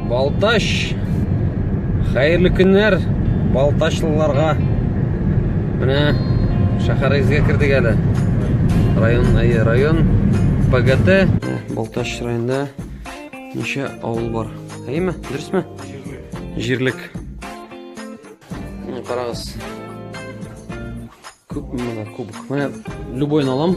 Балтач! Хәерле көннәр Балтачлыларга. Менә шәһәрегезгә кердек әле. Район, әйе, район ПГТ. Балтач районында ничә авыл бар? Әйеме? Дөресме? Җирлек. Менә карагыз. Күп менә кубок. Менә любой алам.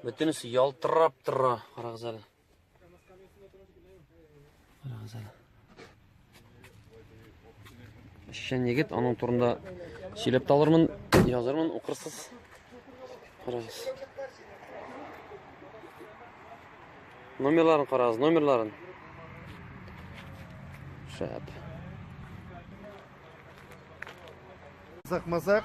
Бөтенесе ялтырап тора, карагыз әле. Карагыз әле. Эшчән егет, аның турында сөйләп талырмын, язырмын, укырсыз. Карагыз. Номерларын карагыз, номерларын. Шәп. Закмазак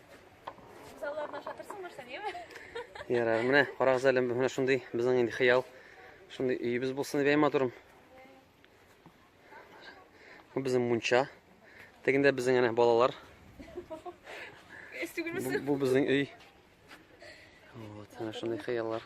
Залларны аша торсаң нәрсә, неме? Ярар, менә карагыз әле, менә шундый безнең инде хыял. Шундый өйебез булсын дип әйма торым. Бу безнең мунча. Тегендә безнең әнә балалар. Бу, бу безнең өй. Вот, менә шундый хыяллар.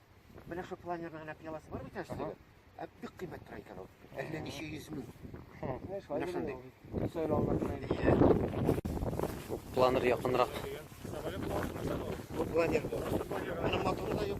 Менә шул планерның генә пиаласы бар бит әле. Ә бик кыйммәт тора икән ул. Әллә ничә йөз мең. Менә шундый. Планер якынрак. Бу планер. Менә моторы да юк.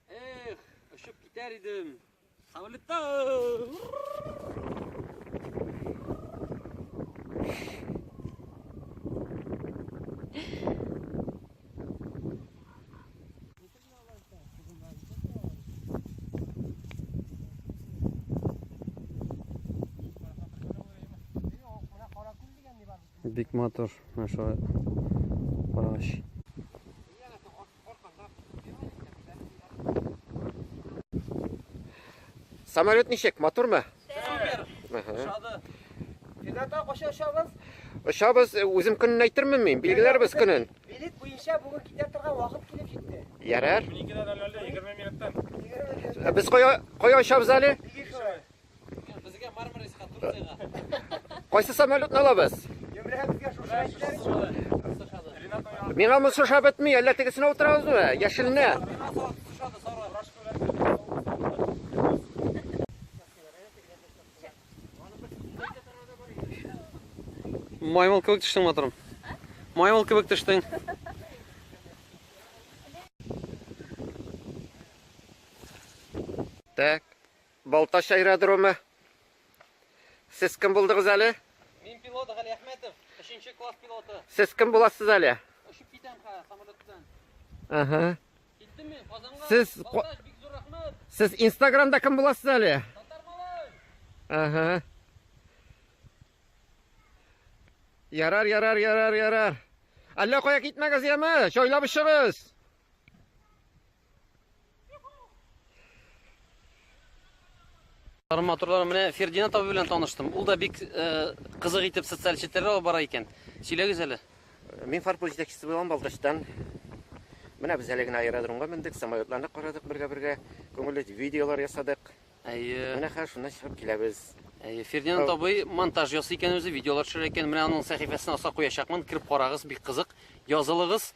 Эх, очып китәр идем. Самолетта! Бик матур, наша параш. Самолет ничек, матурмы? Шады. Финатта каша очабыз? Очабыз, э, үзем көнен әйтермен мин, билгеләрбез көнен. Билет буенча бүген китә торган вакыт килеп җитте. Ярар. 12 дә әллә 20 минуттан. Э, без кая кая очабыз әле? Безгә Мармариска, Турцияга. Кайсы самолетны алабыз? Йөмрәбезгә шушы әйтләр. Миңа монсы ошап бетми, әллә тегесенә утырабызмы? Яшеленә. Маймыл кебек төштең, матурым. Маймыл кебек төштең. Так. Балтач аэродромы. Сез кем булдыгыз әле? Мин пилот Гали Әхмәтов, 3 класс пилоты. Сез кем буласыз әле? Очып китәм хә, самолеттан. Ага. Киттем мин Казанга. Сез Балтач бик зур рәхмәт. Сез Инстаграмда кем буласыз әле? Татар малай. Ага. Ярар, ярар, ярар, ярар. Әллә кая китмәгез яме, чойлап чыгыз. Тарым матурлары менә Фердинанд абый белән таныштым. Ул да бик э, кызык итеп социаль челтәрләр алып бара икән. Сөйләгез әле. Мин фарпул җитәкчесе булам Балтачтан. Менә без әле генә аэродромга мендек, самолетларны карадык бергә-бергә, күңелле видеолар ясадык. Әйе. Менә хәзер шуннан чыгып киләбез. Әйе, Фердинанд Ау. абый монтаж ясый икән үзе, видеолар төшерә икән. Менә аның сәхифәсен аска куячакмын. Кереп карагыз, бик кызык. Язылыгыз.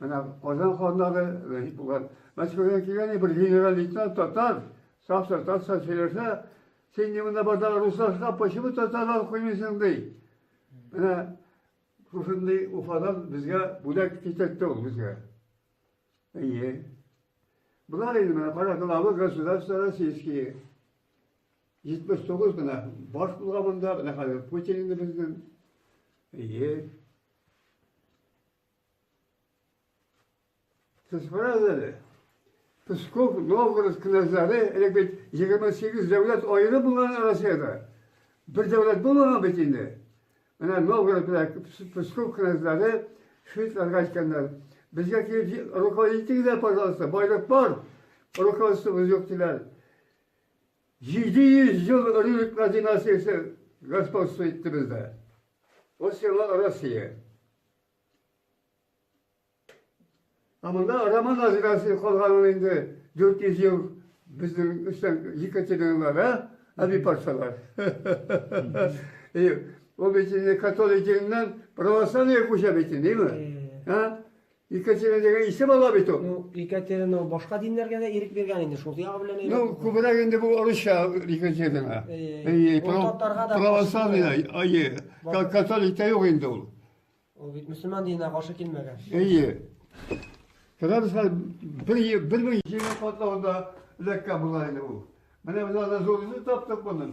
Менә Казан ханнары, Вәҗип булган, Мәскәүдән килгән ни бер генераль лейтенант татар, саф татарча сөйләсә, син ни монда барда руслашка, почему татарда укымыйсың ди. Менә шушындый Уфадан безгә бүләк китертте ул безгә. Әйе. Болар инде менә кара главы государства российские. 79 менә баш булган монда, менә хәзер Путин инде безнең. Әйе. Сез карагыз әле. Псков, Новгород князьлары, элек бит 28 дәүләт аеры булган Россиядә. Бер дәүләт булмаган бит инде. Менә Новгород белән Псков князьлары шведларга әйткәннәр. Безгә килеп руководитель дә, пожалуйста, байлык бар. Руководствобыз юк диләр. 700 ел Рюриклар династиясе господство итте бездә. Ул сиңа Россия. Ә монда Роман Азирасы калганын инде 400 ел безнең өстән Екатериналар, ә? Әби патшалар. Ул бит инде католик диненнән православие күчә бит инде, димме? Ә? Екатерина дигән исе бала бит ул. Ну, Екатерина башка диннәргә дә ирек биргән инде, шул ягы белән әйбәт. Ну, күбрәк инде бу русча Екатерина. Әйе, татарга да православный, әйе, католик та юк инде ул. Ул бит мөселман диненә каршы килмәгән. Әйе. Кыргыз хәл бер бер мең җиңе катлавында ләккә була инде ул. Менә без аны зур итеп таптык моны.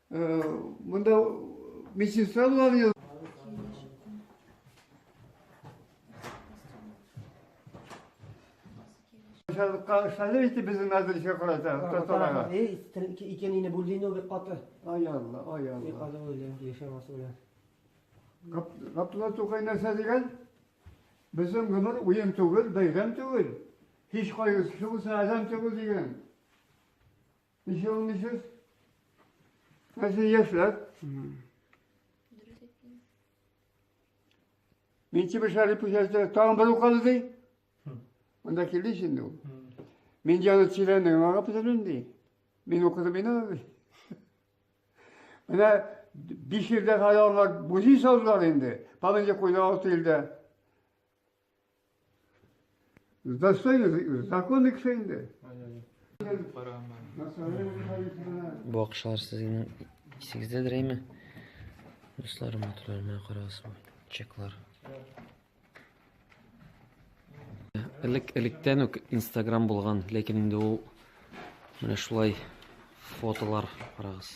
Монда медсестра булган ел. Шәле итеп безнең мәдрәсә карата, татарга. Эй, икенене бүлдине бик каты. Ай Алла, ай Алла. Бик каты үлем, яшәмәс үлем. Габдулла Тукай нәрсә дигән? Безнең гомер уен түгел, бәйрәм түгел. Һич кайгысы булса, адәм түгел дигән. Ничә уйныйсыз? Ә сез яшьләр? Дөрес әйттең. Мин тимер шары пүшәсте, тагын бер укалды ди. Монда килде инде ул. Мин җаны тирәнлеген аңлап бетердем ди. Мин укыдым мин аны ди. Менә биш елда хәле аңлар бузи салдылар инде. Памятле куйды алты елда. Достойно, законы кеше инде. Бу акчалар сезнең исегездә дирәйме? Дуслар, матурлар, менә карагыз бу чеклар. Элек электән үк Instagram булган, ләкин инде ул менә шулай фотолар карагыз.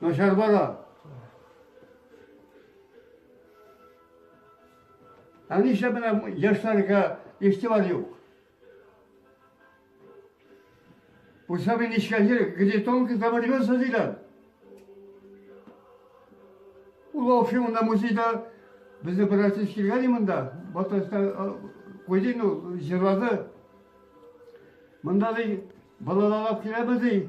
Начар бара. Ә нишләп менә яшьләргә игътибар юк? Булса мин нечкәлер, где тонко там рвется диләр. Ул вообще монда музейда безне бер артист килгән монда, Батыста куйды, ну, җырлады. Монда ди балалалап киләбез ди.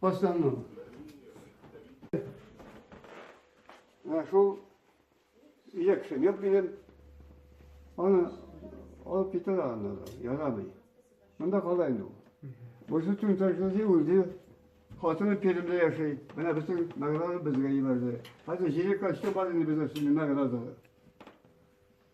Башланмам. Ә шул лекция нет минем. Аны алып китәләр анда да, ярамый. Монда кала инде ул. Бусы төн тәрҗәде үлде. Хатыны Пермьдә яши. Менә бөтен награда безгә җибәрде. Хәзер җире качты бар инде бездә синең награда.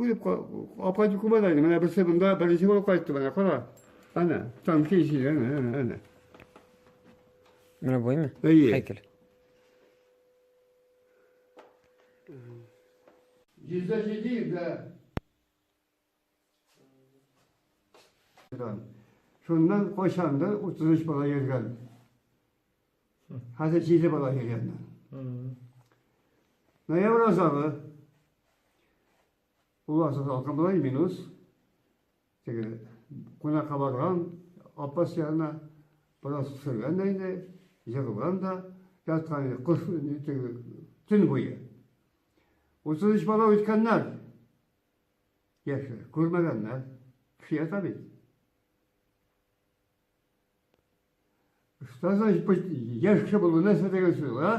Үлеп апа түкемә дә менә берсе монда беренче булып кайтты менә кара. Әнә, танки ишеге, әнә, әнә, әнә. Менә буймы? Әйе. Хәйкәл. Йөздә җиде йөздә. Шуннан кайчандыр 33 бала йөргән. Хәзер җиде бала йөргәннәр. Ноябрь азагы ул асыл салкын була, минус. Теге кунакка барган, апас янына бераз төшергән дә инде, егылган да, яткан инде, кыш теге төн буе. Утыз өч бала үткәннәр. Яшьләр, күрмәгәннәр. Кеше ята бит. Что значит быть яшь кеше булу нәрсә дигән сүз ул, а?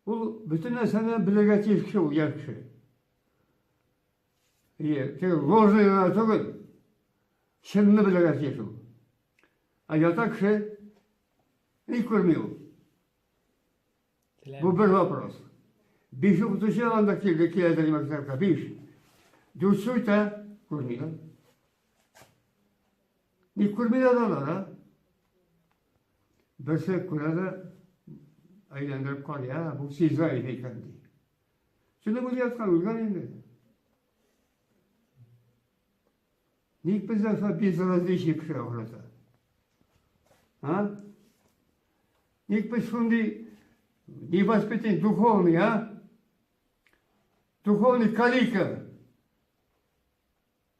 Ул бөтен нәрсәне белергә тиеш кеше ул яшь кеше. И теге ложный гына түгел, чынны белергә тиеш ул. А ята кеше ни күрми ул. Бу бер вопрос. Биш укытучы анда килде, киләдер мәктәпкә, биш. Дүрт сөйтә, күрмиләр. Ни күрмиләр алар, а? Берсе күрә дә әйләндереп карый, бу сиза иде икән ди. Шуны бүлгәткән, үлгән инде. Ник бездә со безразличие кешегә охшата? А? Ник без шундый невоспитанный, духовный, а? Духовный калика.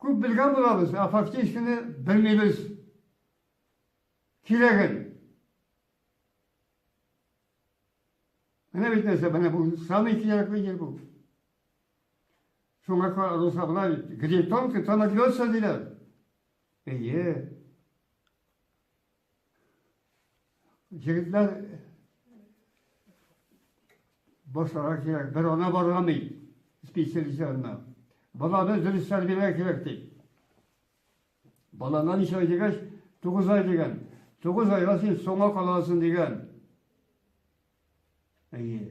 Күп белгән булабыз, а фактически белмибез. Кирәген. Менә бит нәрсә, менә бу самый кирәкле ел бу. Шуңа каралса болай, гритонка, то нагнется диләр. Әйе. Егетләр башларга кирәк, бер ана баргамый специалист янына. Баланы дөрес тәрбияләргә кирәк ди. Балана ничә ай дигәч, 9 ай дигән. 9 айга син соңга каласың дигән. Әйе.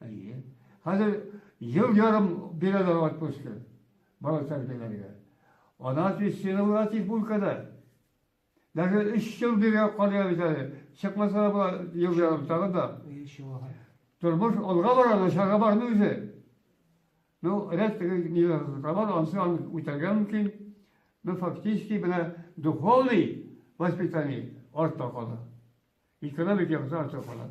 Әйе. Хәзер ел ярым бирәләр отпускы бала тәрбияләргә. Ана тестировала тик бүлкәдә. Даже өч ел бирә калыя бит әле. Чыкмаса да була ел ярым тагын да. Тормыш алга бара, начарга бармый үзе. Ну, ряд теге ниләргә бар, ансы аны үтәргә мөмкин. Ну, фактически менә духовный воспитание артта кала. Экономик яктан артта кала.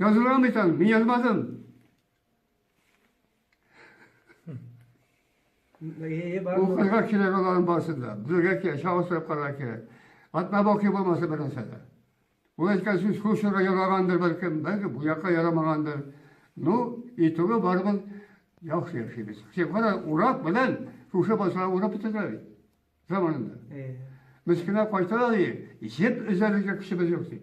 Язылган бит аны, мин язмадым. Ул кызга кирәк аларның барысы да. Бүлергә кирәк, чагылсырып карарга кирәк. Атна бакый булмаса бер нәрсә дә. Ул әйткән сүз Хушерга яраганdır бәлкем, бәлки бу якка ярамаганdır. Ну, итүгә барыбыз яхшы яшибез. Син кара, урак белән шушы басалар урап бетердиләр бит заманында. Мескенә кайталар и, җеп өзәргә көчебез юк ди.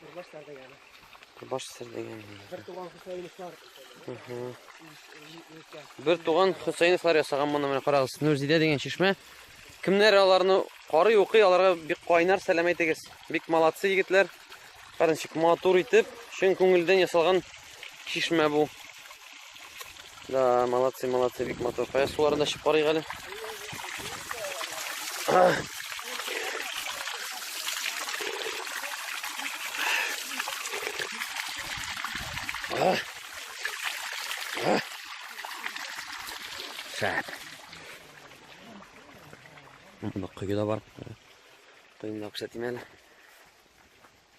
Курбаш сәрдәгәне. Курбаш сәрдәгәне. Бер туган Хөсәеновлар. Бер туган Хөсәеновлар ясаган моны менә карагыз. Нурзидә дигән чишмә. Кемнәр аларны карый укый, аларга бик кайнар сәлам әйтегез. Бик молодцы егетләр. Карынчык матур итеп, чын күңелдән ясалган чишмә бу. Да, молодцы, молодцы, бик матур. Кая суларын да чыгып әле. Шәп. Мында кое да бар. Кыйнлап шәтимәле.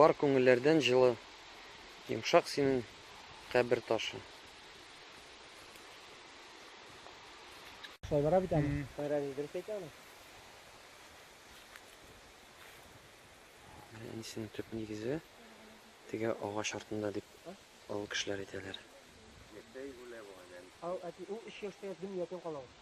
Бар күңелләрдән җылы, йомшак синең кабер ташы. Шулай бара бит әле. Кайран дөрес әйтә аны. Әнисенең төп нигезе теге агач артында дип авыл кешеләр әйтәләр. Ау, әти, ул 3 яшьтә дөньядан кала ул.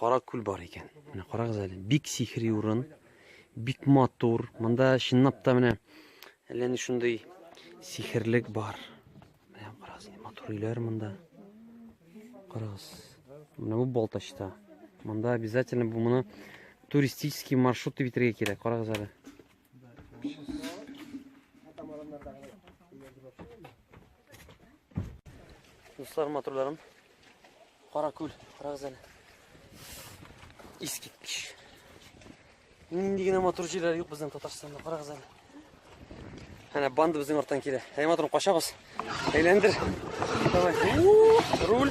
Кара күл бар икән. Менә карагыз әле, бик сихри урын, бик матур. Монда чынлап та менә әллә ни шундый сихерлек бар. Менә карагыз, матур өйләр монда. Карагыз. Менә бу Балтачта. Монда обязательно бу моны туристический маршрут дип итәргә кирәк. Карагыз әле. Дуслар, матурларым, Кара күл, карагыз әле. Искиткеч. Нинди генә матур җирләр юк безнең Татарстанда, карагыз әле. Әнә банда безнең арттан килә. Әй матурым, качабыз. Әйләндер. Давай. Руль.